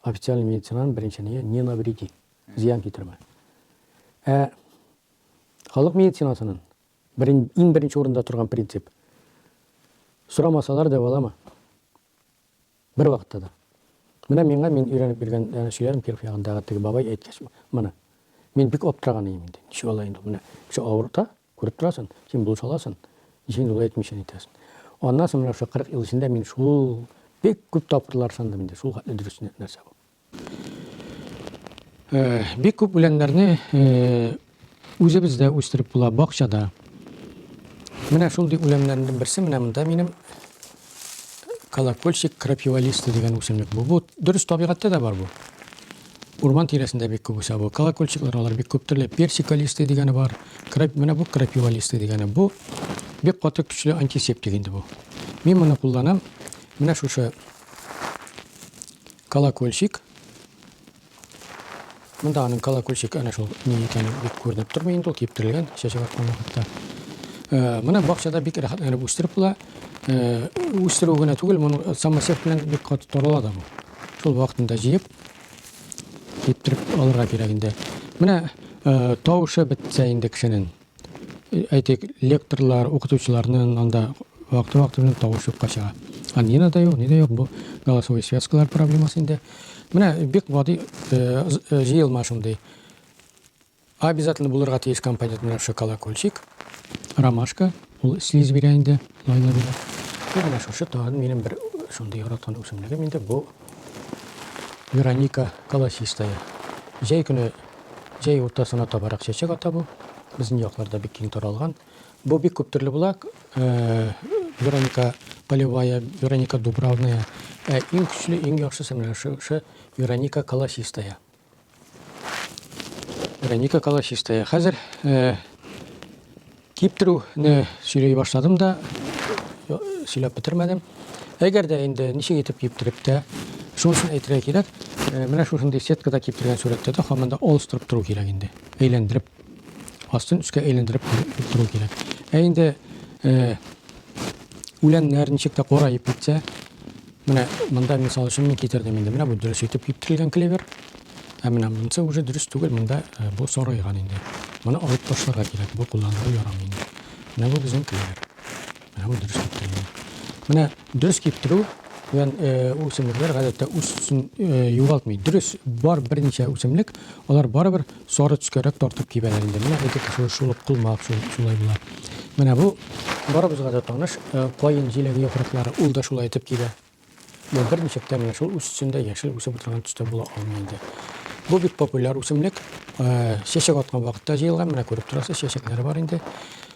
официаль медицинаның беренче ие не навреди зыян китермә ә халык медицинасының берен, иң беренче урында торган принцип сорамасалар дәвалама бер вакытта да менә миңа мин өйрәнеп биргән ә, сөйләрем киров ягындагы теге бабай әйткәч моны мин бик аптыраган идем инде ничек алай инде менә кеше авырта Күреп торасың, син булыш аласың, ничек дулай әйтмичә әйтәсең. Аннан соң менә шул 40 ел эчендә мин шул бик күп тапкырлар сандым инде, шул хәтле дөрес нәрсә бу. Э, бик күп үләннәрне э, үзебездә үстереп була, бакчада. Менә шундый үләннәрнең берсе менә монда минем Колокольчик крапивалиста дигән үсемлек бу. Бу дөрес табигатьтә дә бар бу. Урман тирәсендә бик күп үсә бу. Колокольчиклар алар бик күп төрле. Персикалиста дигәне бар. Крап, менә бу крапивалиста дигәне. Бу бик каты көчле антисептик инде бу. Мин моны кулланам. Менә шушы колокольчик. Монда аның колокольчик әнә шул ни икәне бик күренеп тормый инде, ул киптерелгән чәчәк аткан вакытта. Э, моны бакчада бик рәхәтләнеп үстереп була. Э, үстерү генә түгел, моны самосев белән бик каты торыла да бу. Шул вакытында җыеп, киптереп алырга кирәк инде. Менә э, тавышы бетсә инде кешенең. Әйтик, лекторлар, укытучыларның анда вакыты-вакыты белән тавыш юкка чыга. Ә нина да юк, ни дә юк, бу голосовой связкалар проблемасы инде. Менә бик гади э, э, җыелма шундый. Обязательно булырга тиеш компонент менә шушы колокольчик, ромашка, ул слиз бирә инде, майлы бирә. Бу менә шушы тагын минем бер шундый яраткан үсемлегем инде бу Вероника колосистая. Җәй көне Җәй уртасына табарак чәчәк ата бу. Безнең якларда бик киң таралган. Бу бик күп төрле була. Вероника полевая, Вероника дубравная. Ә иң көчле, иң яхшысы менә шушы Вероника колосистая. Вероника колосистая. Хәзер Киптерүне сөйләй башладым да, сөйләп бетермәдем. Әгәр дә инде ничек итеп киптереп тә, шунысын әйтергә кирәк, менә шушындый сеткада киптергән сурәттә дә хамында алыстырып тору кирәк инде. Әйләндереп, астын өскә әйләндереп тору кирәк. Ә инде үләннәр ничек тә кораеп китсә, менә монда мисал өчен мин китердем инде. Менә бу дөрес итеп киптерелгән клевер. Ә менә монысы уже дөрес түгел, монда э, бу сарайган инде. Моны алып ташларга кирәк, бу кулланырга ярамый инде. Менә бу безнең килер. Менә бу дөрес киптерү. Менә дөрес киптерү белән э, үсемлекләр гадәттә үз төсен э, югалтмый. Дөрес, бар берничә үсемлек, алар барыбер сары төскәрәк тартып кибәләр инде. Менә эти кеше шулып кулмак шулай була. Менә бу барыбызга да таныш каен җиләге яфраклары, ул да шулай итеп кибә. Бу бер ничектә менә шул үс эчендә яшел үсеп утырган төстә була алмый инде. Бу бик популяр үсемлек. Э, чәчәк аткан вакытта җыелган, менә күреп торасыз, чәчәкләре бар инде.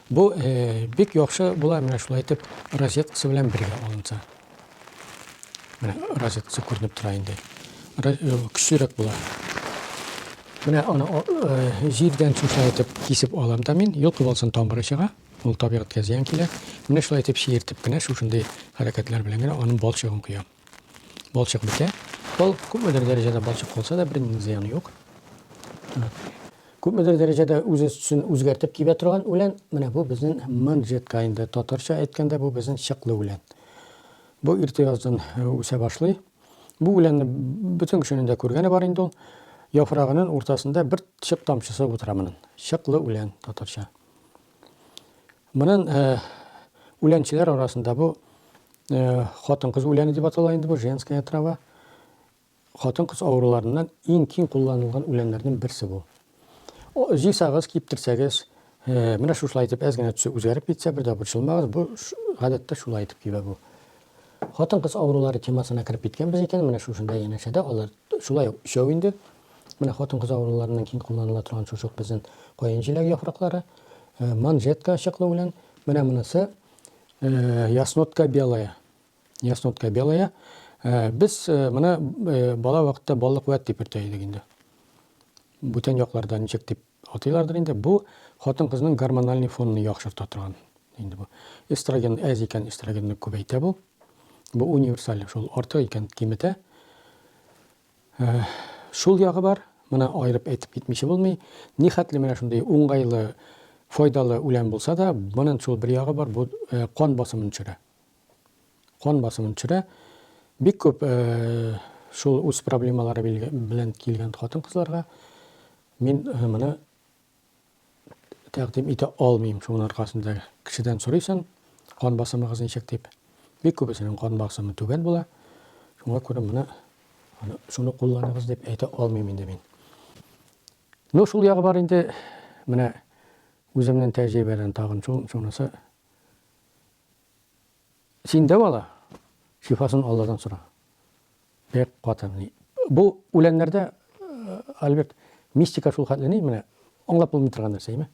Бу э, бик яхшы була, менә шулай итеп розеткасы белән бергә алынса. Менә розеткасы күренеп тора инде. Э, көчлерәк була. Менә аны җирдән сүтә итеп кисеп алам да мин, юл кыбылсын тамыры чыга. Ул табигатькә зыян килә. Менә шулай итеп чиертеп кенә, шушындый хәрәкәтләр белән генә аның балчыгын коям. Балчык бетә. Ул күпмедер дәрәҗәдә балчык калса да, бернинди зыяны юк. Күпмедер дәрәҗәдә үзен үзгәртеп кибә торган үлән, менә бу безнең манжетка инде. Татарча әйткәндә, бу безнең чыклы үлән. Бу иртә яздан үсә башлый. Бу үләнне бөтен кешенең дә күргәне бар инде ул. Яфрагының уртасында бер чык тамчысы утыра моның. Чыклы үлән татарча. Монын э, үләнчеләр арасында бу э, хатын-кыз үләне дип атала инде бу женская трава. Хатын-кыз авыруларыннан иң киң кулланылган үләннәрнең берсе бу. Җыйсагыз, киптерсәгез, э, менә шушылай итеп әз генә төсе үзгәреп китсә, бер дә борчылмагыз, бу гадәттә шулай итеп кибә бу. Хатын-кыз авырулары темасына кереп киткәнбез икән, менә шушында янәшәдә алар шулай ук өчәү инде, Менә хатын-кыз авыруларыннан киң кулланыла торган чучук безнен каен җиләге яфраклары, манжетка чыклы белән. Менә монысы яснотка белая. Яснотка белая. Без моны бала вакытта баллык вәт дип йөртә идек инде. Бүтән якларда ничек дип атыйлардыр инде. Бу хатын-кызның гормональ фонын яхшырта торган инде бу. Эстроген әз икән, эстрогенны күбәйтә бу. Бу универсаль шул арты икән киметә. Шул ягы бар, моны аерып әйтеп китмиче булмый. Нихәтле менә шундый уңгайлы, файдалы үлән булса да, монын шул бер ягы бар, бу кан басымын төшерә. Кан басымын төшерә. Бик күп шул үз проблемалары белән килгән хатын-кызларга мин моны тәкъдим итә алмыйм. Шуның аркасында кешедән сорыйсың, кан басымыгыз ничек дип. Бик күбесенең кан басымы түбән була. Шуңа күрә моны аны шуны кулланыгыз дип әйтә алмыйм инде мин. Ну, шул ягы бар инде. Менә үземнең тәҗрибәдән тагын шул шунысы. Син дәү ала, шифасын Алладан сора. Бик каты. Бу үләннәрдә, Альберт, мистика шул хәтле ни, менә аңлап булмый торган нәрсә, әйме?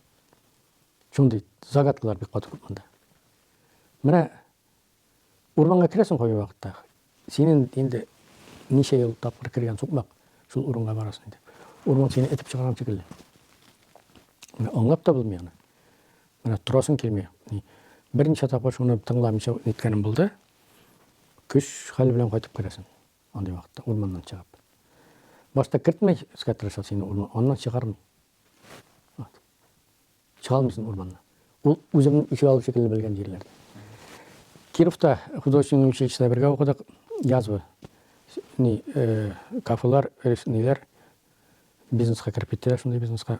Шундый загадкалар бик каты күп монда. Менә урманга керәсең кайбер вакытта. Синең инде ничә ел тапкыр кергән сукмак, шул урынга барасың инде. Урман сине этеп чыгарган шикелле. Менә аңлап та булмый аны. Менә торасың килми. Берничә тапкыр шуны тыңламыйча ниткәнем булды. Көч хәл белән кайтып керәсең. Андый вакытта урманнан чыгып. Башта кертмәскә тырыша сине урман, аннан чыгармый. Вот. Чыгалмыйсың урманнан. Ул үзеңнең ишек алып шикелле белгән җирләр. Кировта художественный училищеда бергә укыдык. Язва. Ни, э, кафелар, э, ниләр бизнеска кереп киттеләр, шундый бизнеска.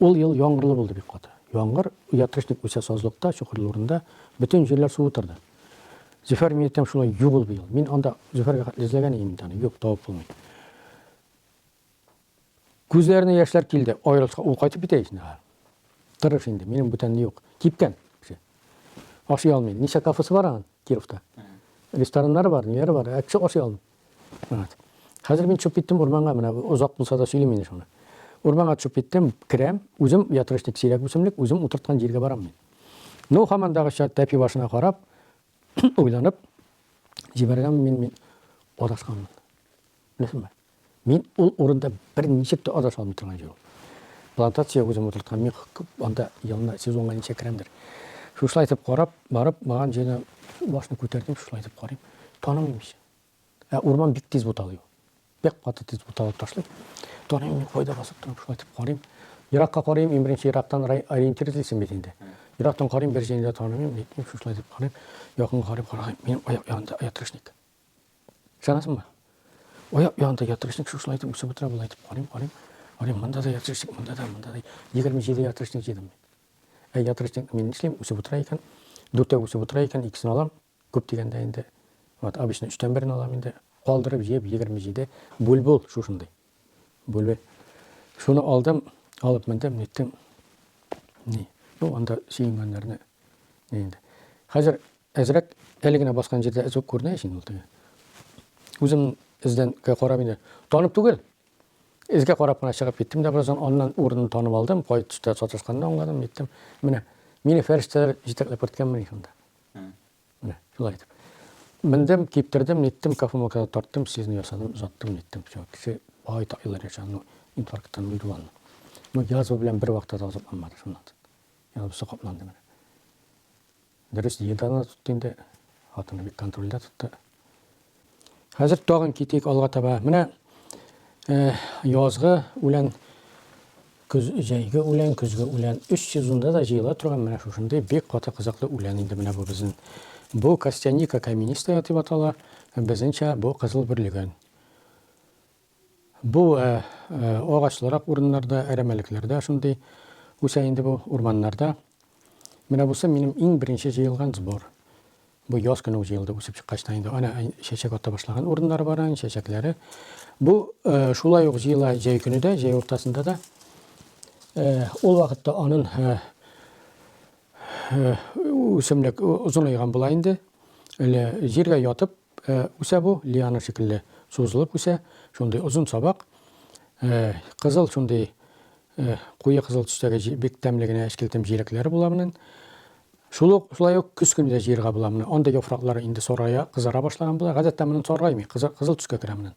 Ул ел яңгырлы булды бик каты. Яңгыр, оятрычник үсә сазлыкта, чокырлы урында, бөтен җирләр су утырды. Зөфәр миятем шулай юк ул быел. Мин анда Зөфәргә хәтле эзләгән идем бит аны, юк, табып булмый. Күзләренә яшьләр килде, аерылышка ул кайтып китә ич инде. Тырыш инде, минем бүтән юк. Кипкән кеше. Ашый алмый. Ничә кафесы бар аның Кировта? Рестораннары бар, ниләре бар, ә кеше ашый алмый. Хәзер мин төшеп киттем урманга, менә озак булса да сөйлим инде шуны. Урманга төшеп киттем, керәм, үзем ятрышник сирәк үсемлек, үзем утырткан җиргә барам мин. Ну, хамандагыча тәпи башына карап, уйланып, җибәргән мин, мин адашканмын. Беләсеңме? Мин ул урында бер ничек тә адаша алмый торган җир ул. Плантация үзем утырткан, мин анда елына сезонга ничә керәмдер. Шушылай итеп карап, барып, барган җирдә башны күтәрдем, шушылай итеп карыйм. Танымыйм ич. Ә урман бик тиз буталый. Бик каты тиз буталып ташлый. Торыйм, мин кайда басып торам, шулай итеп карыйм. Еракка карыйм, иң беренче ерактан ориентир эзлисең бит инде. Ерактан карыйм, бер җәйне дә таныйм, нитмим, шулай дип карыйм. Якын карыйм, караган, минем аяк янында ятрышник. Ышанасыңмы? Аяк янында ятрышник, шулай итеп үсеп утыра, болай итеп карыйм, карыйм. Карыйм, монда да ятрышник, монда да, монда да. 27 ятрышник җыйдым. Ә ятрышник мин нишлим, үсеп утыра икән. Дүртәү үсеп утыра икән, икесен алам, Күп дигәндә инде, вот обычно өчтән берен алам инде, калдырып җыеп егерме җиде бульбул шушындый. Бульбе. Шуны алдым, алып мендем, ниттем. Ни, ну анда сөенгәннәрне ни инде. Хәзер әзрәк әле генә баскан җирдә эзүк күренә ишин ул теге. Үзем эздән карап инде. Танып түгел. Эзгә карап кына чыгып киттем дә бераздан аннан урынын танып алдым. Кай төштә саташканны аңладым, ниттем. Менә мине фәрештәләр җитәкләп керткәнмени шунда. Шулай итеп. Мендем, киптердем, ниттем, кофемолкада тарттым, сезне ясадым, озаттым, ниттем. Все, кеше бай еллар яшәгән, ну, инфаркттан үлде ул. Ну, язва белән бер вакытта да озатмады шуннан. Язва сокапланды менә. Дөрес, еданы тотты инде, хатыны бик контрольдә тотты. Хәзер тагын китик алга таба. Менә язгы үлән, көз, җәйге үлән, көзге үлән. Өч сезонда да җыела торган менә шушындый бик каты кызыклы үлән инде менә бу безнең. Бу костяника каменистая дип атала, безнеңчә бу кызыл бөрлегән. Бу агачлырак урыннарда, әрәмәлекләрдә шундый үсә инде бу, урманнарда. Менә бусы минем иң беренче җыелган сбор. Бу яз көне үк җыелды, үсеп чыккач та инде. Ана чәчәк ата башлаган урыннары бар аның, чәчәкләре. Бу шулай ук җыела җәй көне дә, җәй уртасында да. Ул вакытта анын үсемлек озынаеган була инде. Әле җиргә ятып, Ә үсә бу, лиана шикелле сузылып үсә, шундый озын сабак. Кызыл шундый куе кызыл төстәге бик тәмле генә эчкелтем җиләкләре була монын. Шул ук шулай ук көз көне дә җыерга була моны. Анда яфраклары инде сарая, кызара башлаган була. Гадәттә монын саргаймый, кызыл, кызыл төскә керә монын.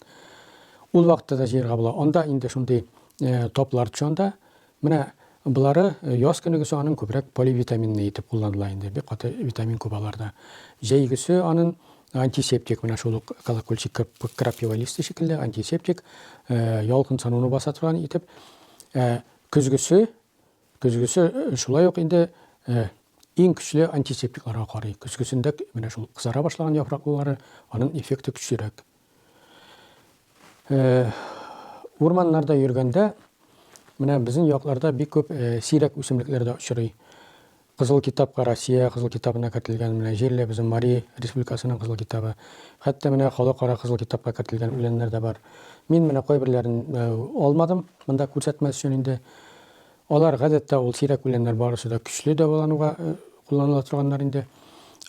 Ул вакытта да җыерга була. Анда инде шундый таплар төшә анда. Менә болары яз көнегесе анын күбрәк поливитаминный итеп кулланыла инде, бик каты витамин күп аларда. Җәйгесе анын антисептик, менә шул ук колокольчик крапива листы шикелле антисептик, ялкынсануны баса торган итеп. Ә көзгесе, көзгесе шулай ук инде иң көчле антисептикларга карый. Көзгесендә менә шул кызара башлаган яфраклылары анын эффекты көчлерәк. Э, урманнарда йөргәндә, менә безнең якларда бик күп э, сирәк үсемлекләр дә очрый. Кызыл китапка Россия кызыл китабына кертелгән менә җирле безнең Мари республикасының кызыл китабы. Хәтта менә халыкара кызыл китапка кертелгән үләннәр дә бар. Мин менә кайберләрен э, алмадым, монда күрсәтмәс өчен инде. Алар, гадәттә, ул сирәк үләннәр барысы да көчле дәвалануга кулланыла торганнар инде.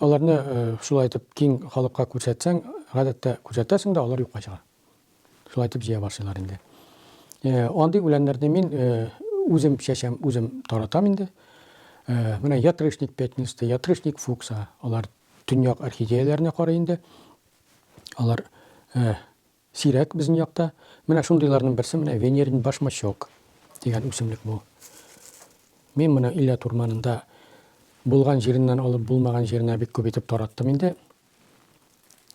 Аларны шулай итеп киң халыкка күрсәтсәң, гадәттә күрсәтәсең дә, алар юкка чыга. Шулай итеп җыя башлыйлар инде. Андый үләннәрне мин үзем чәчәм, үзем таратам инде. Менә ятрышник пятнистый, ятрышник фукса, алар төньяк орхидеяләренә карый инде. Алар Сирәк безнең якта. Менә шундыйларның берсе менә венерин башмачок дигән үсемлек бу. Мин моны Иләт урманында булган җиреннән алып булмаган җиренә бик күп итеп тараттым инде.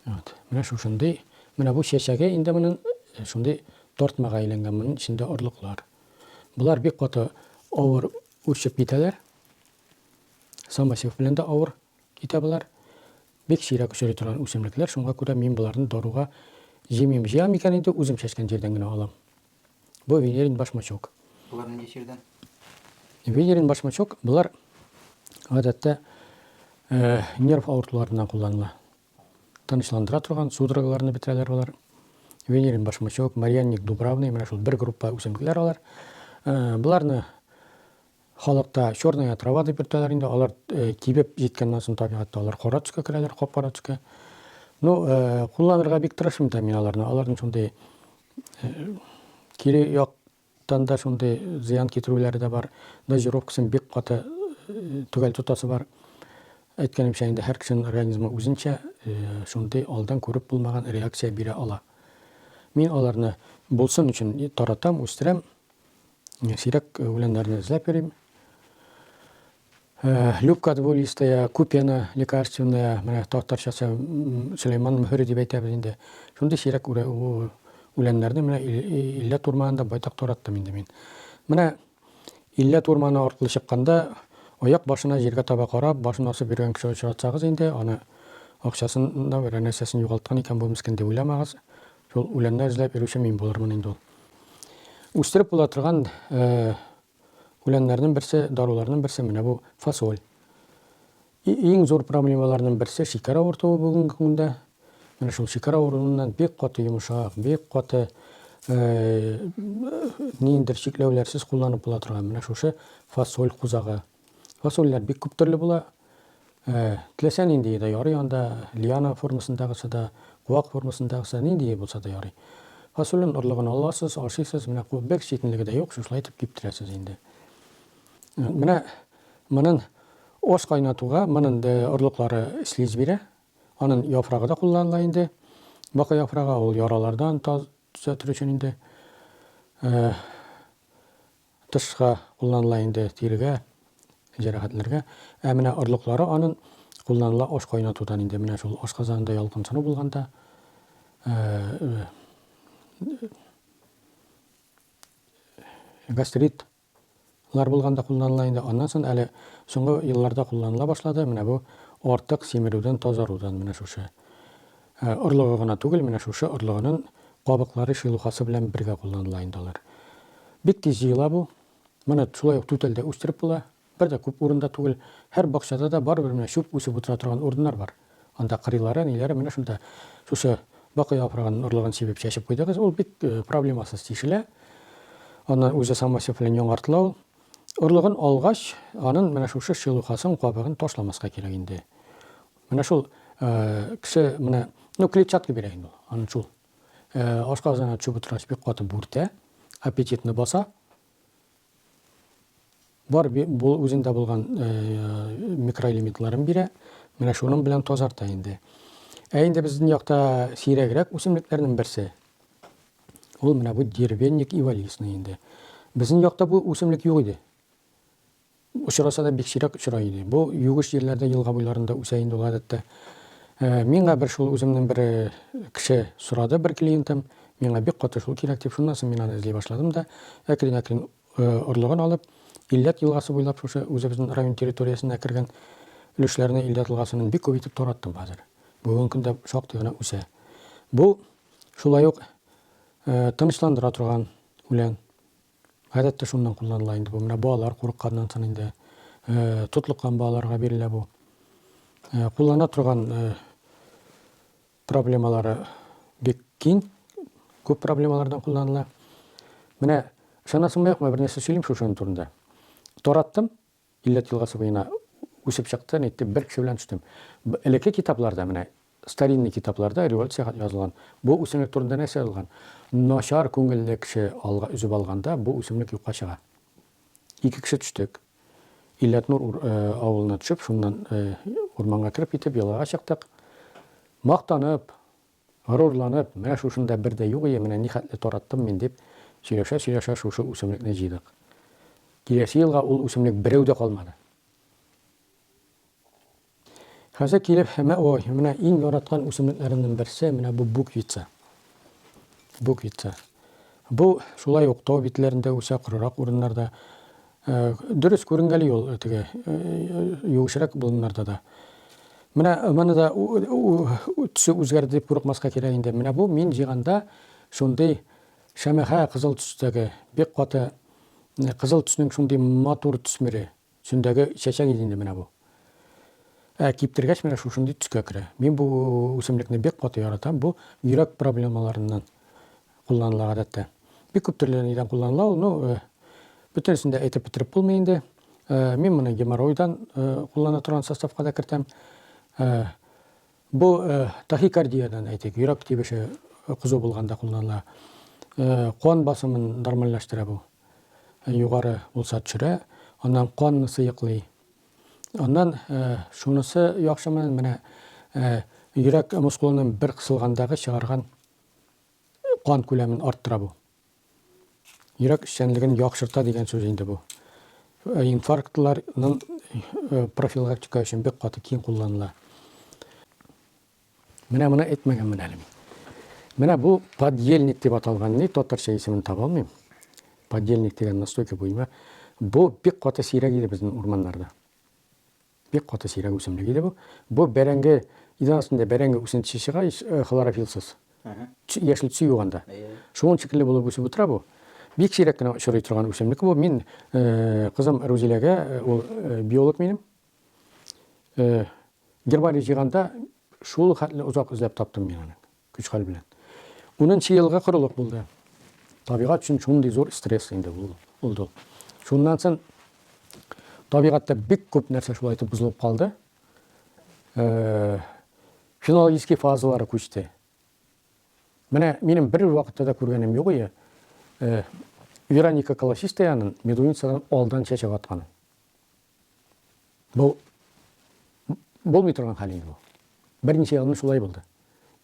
Вот. Менә шушындый. Менә бу чәчәге инде моның э, шундый тартмага әйләнгән, моның эчендә орлыклар. Болар бик каты авыр үрчеп китәләр. Самосев белән дә авыр китә болар. Бик сирәк очрый торган үсемлекләр, шуңа күрә мин боларны даруга җыймыйм. Җыям икән инде, үзем чәчкән җирдән генә алам. Бу венерин башмачок. Болар нинди җирдән? Венерин башмачок, болар гадәттә нерв авыртуларыннан кулланыла. Тынычландыра торган судорогаларны бетерәләр болар. Венерин башмачок, Марьянник дубравный, менә шул бер группа үсемлекләр алар. Боларны Халыкта черная трава дип йөртәләр инде, алар кибеп җиткәннән соң табигатьтә алар кара төскә керәләр, кап-кара төскә. Ну, кулланырга бик тырышмыйм да мин аларны, аларның шундый кире як тан да шундый зыян китерүләре дә бар. Дозировкасын бик каты төгәл тотасы бар. Әйткәнемчә, инде һәр кешенең организмы үзенчә шундый алдан күреп булмаган реакция бирә ала. Мин аларны булсын өчен таратам, үстерәм. Сирәк үләннәрне эзләп йөрим. Э, Любка двулистая, купена лекарственная, менә татарчасы Сөләйман мөһере дип әйтәбез инде. Шундый сирәк үләннәрне менә Иллә турманында байтак тараттым инде мин. Менә Иллә турманы аркылы чыкканда, аяк башына җиргә таба карап, башын асып йөргән кеше очратсагыз инде, аны акчасын да, бер нәрсәсен югалткан икән бу мискин дип уйламагыз. Шул үләннәр эзләп йөрүче мин булырмын инде ул. Үстереп була торган үләннәрнең берсе, даруларның берсе менә бу фасоль. Иң зур проблемаларның берсе шикәр авыртуы бүгенге көндә. Менә шул шикәр авыруыннан бик каты йомшак, бик каты ниндер чикләүләрсез кулланып була торган менә шушы фасоль кузагы. Фасольләр бик күп төрле була. Э, теләсә ниндие дә ярый анда, лиана формасындагысы да, куак формасындагысы, ниндие булса да ярый. Фасолен орлыгын аласыз, ашыйсыз, менә куып бер читенлеге дә юк, шушылай итеп киптерәсез инде. Э, менә монын ос кайнатуга монын орлыклары слиз бирә. Анын яфрагы да кулланыла инде. Бака яфрагы ул яралардан төзәтер өчен инде. Э, Тышка кулланыла инде тирегә, җәрәхәтләргә. Ә менә орлыклары анын кулланыла аш кайнатудан инде, менә шул ашказанында ялкынсыну булганда, гастрит лар булганда кулланыла инде, аннан сон әле соңгы елларда кулланыла башлады, менә бу артык симерүдән тазарудан менә шушы Орлыгы гына түгел, менә шушы орлыгынын кабыклары шелухасы белән бергә кулланыла инде алар. Бик тиз җыела бу. Моны шулай ук түтәл дә үстереп була. Бер дә күп урында түгел. Һәр бакчада да барыбер менә чүп үсеп утыра торган урыннар бар. Анда кырыйлары, ниләре, менә шунда шушы бакый яфрагынын орлыгын сибеп чәчеп куйдыгыз. Ул бик проблемасыз тишелә. Аннан үзе самосев белән яңартлау. Орлыгын алгач, анын менә шушы шелухасын, кабыгын ташламаска кирәк инде. Менә шул кеше менә, ну клетчатка бирә инде ул. Аны шул ашказана төшеп утыргач бик каты бүртә, аппетитны баса. Бар бу үзендә булган микроэлементларын бирә. Менә шуның белән тазарта инде. Ә инде безнең якта сирәгрәк үсемлекләрнең берсе. Ул менә бу деревенник ивалисный инде. Безнең якта бу үсемлек юк иде. Очраса да бик сирәк очрый иде. Бу юеш җирләрдә елга буйларында үсә инде ул гадәттә. Миңа бер шул үземнең бер кеше сорады, бер клиентым, миңа бик каты шул кирәк дип, шуннан соң мин аны эзли башладым да, әкрен-әкрен орлыгын алып, Илләт елгасы буйлап шушы үзебезнең район территориясенә кергән өлешләрне Илләт елгасынын бик күп итеп тараттым хәзер. Бүгенге көндә шактый гына үсә. Бу шулай ук тынычландыра торган үлән. Гадәттә шуннан кулланыла инде бу. Менә балалар курыкканнан сон инде тотлыккан балаларга бирелә бу. Куллана торган проблемалары бик киң, күп проблемалардан кулланыла. Менә ышанасыңмы юкмы, бер нәрсә сөйлим шушының турында. Тараттым, Иләт елгасы буена үсеп чыкты, ниттем, бер кеше белән төштем. Элекке китапларда, менә старинный китапларда, революциягә язылган, бу үсемлек турында нәрсә язылган? Начар күңелле кеше алга өзеп алганда, бу үсемлек юкка чыга. Ике кеше төштек. Иләтнур авылына төшеп, шуннан урманга кереп китеп, елгага чыктык. Мактанып, Горурланып, менә шушында бер дә юк ие, менә нихәтле тараттым мин, дип, сөйләшә-сөйләшә шушы үсемлекне җыйдык. Киләсе елга ул үсемлек берәү дә калмады. Хәзер килеп, мә ой, менә иң яраткан үсемлекләремнең берсе, менә бу буквица. Буквица. Бу шулай ук тау битләрендә үсә, корырак урыннарда. Э, дөрес күренгәли ул э, теге э, югышрәк болыннарда да менә моны да төсе үзгәрде дип курыкмаска кирәк инде менә бу мин җыйганда шундый шәмәхә кызыл төстәге бик каты кызыл төснең шундый матур төсмере төсендәге чәчәк иде инде менә бу ә киптергәч менә шушындый төскә керә мин бу үсемлекне бик каты яратам бу йөрәк проблемаларыннан кулланыла гадәттә. Бик күп төрле нидән кулланыла ул, ну, э, бөтенесен дә әйтеп бетереп булмый инде. Э, мин моны геморройдан э, куллана торган составка да кертәм. Э, бу э, тахикардиядән әйтик, йөрәк тибеше кызу булганда кулланыла. Э, кан басымын нормальләштерә бу. Э, югары булса төшерә, аннан канны сыеклый. Аннан э, шунысы яхшымы, менә э, йөрәк мускулының бер кысылгандагы чыгарган кан күләмен арттыра бу. Йөрәк эшчәнлеген яхшырта дигән сүз инде бу. Э, инфарктларның э, профилактика өчен бик каты киң кулланыла. Менә моны әйтмәгәнмен әле мин. Менә бу подельник дип аталган, ни татарча исемен таба алмыйм. Подельник дигән настойка буйма. Бу бик каты сирәк иде безнең урманнарда. Бик каты сирәк үсемлек иде бу. Бу бәрәңге, идән астында бәрәңге үсентесе чыга, хлорофилсыз. Яшел төсе юк анда. Шуның шикелле булып үсеп утыра бу. Бик сирәк кенә очрый торган үсемлек бу. Мин кызым Рузиләгә, ул биолог минем, гербарий җыйганда шул хәтле озак эзләп таптым мин аны. Көч-хәл белән. Унынчы елгы корылык булды. Табигать өчен шундый зур стресс инде ул булды. Шуннан сон табигатьтә бик күп нәрсә шулай итеп бозылып калды. Фенологический фазалары күчте. Менә минем бер вакытта да күргәнем юк иде. Вероника колосистая анын медуницадан алдан чәчәк атканын. Бу булмый торган хәл инде бу. Берничә елны шулай булды.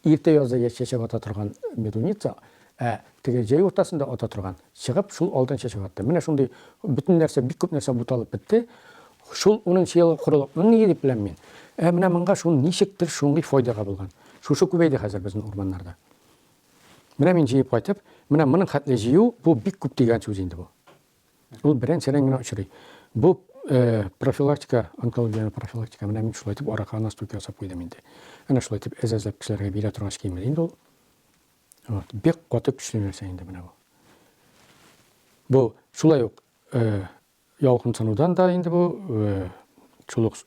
Иртә язда чәчәк ата торган медуница, ә теге җәй уртасында ата торган чыгып, шул алдан чәчәк атты. Менә шундый бөтен нәрсә, бик күп нәрсә буталып бетте. Шул 10 елы корылык. Ни дип беләм мин? Ә менә монга шул ничектер шундый файдага булган. Шушы күбәйде хәзер безнең урманнарда. Менә мин җыеп кайтып, менә моның хәтле җыю, бу бик күп дигән сүз инде бу. Ул беренчедән генә очрый. Бу профилактика, онкологиянең профилактика, менә мин шулай итеп аракыга настойка ясап куйдым инде. Әнә шулай итеп әз-әзләп кешеләргә бирә торгач кимер инде ул. Вот, бик каты көчле нәрсә инде менә бу. Бу шулай ук ялкынсынудан да инде бу шул ук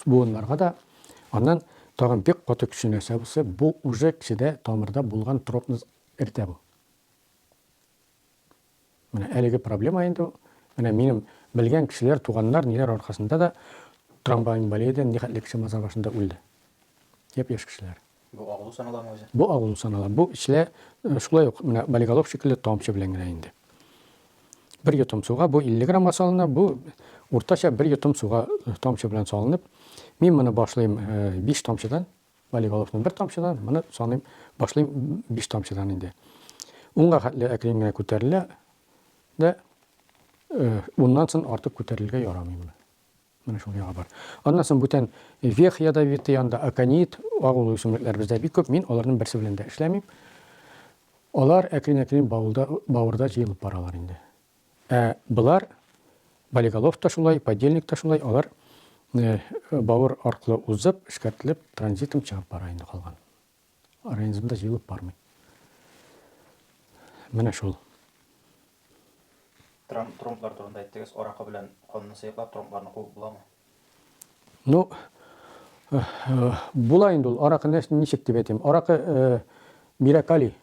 буыннарга да. Аннан тагын бик каты көчле нәрсә булса, бу уже кешедә тамырда булган тропны эртә бу. Менә әлеге проблема инде ул. Менә минем белгән кешеләр, туганнар, ниләр аркасында да трамвай инвалиден нихәтле кеше маза башында үлде. Яп яшь кешеләр. Бу агылу саналамы үзе? Бу агылу санала. Бу эчлә э, шулай ук менә болиголов шикелле тамчы белән генә инде. Бер йотым суга бу 50 граммга салына, бу уртача бер йотым суга э, тамчы белән салынып, мин моны башлыйм 5 э, тамчыдан, Вәлиголовны бер тамчыдан, моны саныйм, башлыйм биш тамчыдан инде. Унга хәтле әкрен генә күтәрелә дә, уннан сон артык күтәрелергә ярамый моны. Менә шул яга бар. Аннан сон бүтән вех ядовитый анда аконит, агулы үсемлекләр бездә бик күп, мин аларның берсе белән дә эшләмим. Алар әкрен-әкрен бавылда, бавырда җыелып баралар инде. Ә болар, болиголов та шулай, подельник та шулай, алар бавыр аркылы узып, эшкәртелеп, транзитом чыгып бара инде калган. Организмда җыелып бармый. Менә шул. Трамп, тромблар турында әйттегез, аракы белән канны сыеклап тромбларны куып буламы? Ну, э, э, була инде ул. Аракы ничек дип әйтим? Аракы э, бирә калий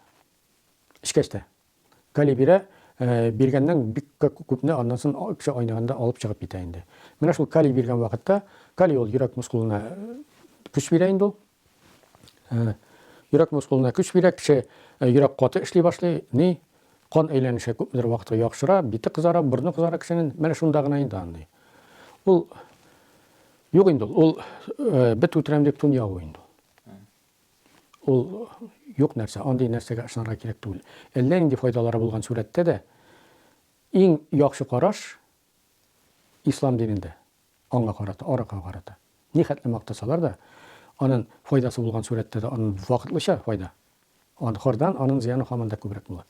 эчкәч тә. Гали бирә, биргәннән бик күпне аннан сон кеше айныганда алып чыгып китә инде. Менә шул калий биргән вакытта, калий ул йөрәк мускулына көч бирә инде ул. Йөрәк мускулына көч бирә, кеше йөрәк каты эшли башлый, ни кан әйләнеше күпмедер вакытка яхшыра, бите кызара, борны кызара кешенең. Менә шунда гына инде андый. Ул юк инде ул, бет үтерәм дип тун ябу инде. Ул юк нәрсә, андый нәрсәгә ышанырга кирәк түгел. Әллә нинди файдалары булган сурәттә дә иң яхшы караш Ислам динендә аңа карата, аракыга карата. Нихәтле мактасалар да, анын файдасы булган сурәттә дә анын вакытлыча файда, аны хордан, анын зыяны һаман да күбрәк була.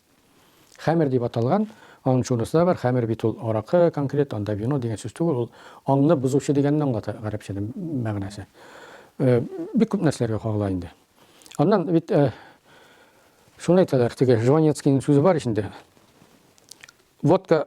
Хәмер дип аталган, анын шунысы да бар, хәмер бит ул аракы конкрет, анда вино дигән сүз түгел, ул анны бозучы дигәнне аңлата гарәпчәдә мәгънәсе. Бик күп нәрсәләргә кагыла инде. Аннан бит шуны әйтәләр, теге Жванецкийның сүзе бар ич инде. Водка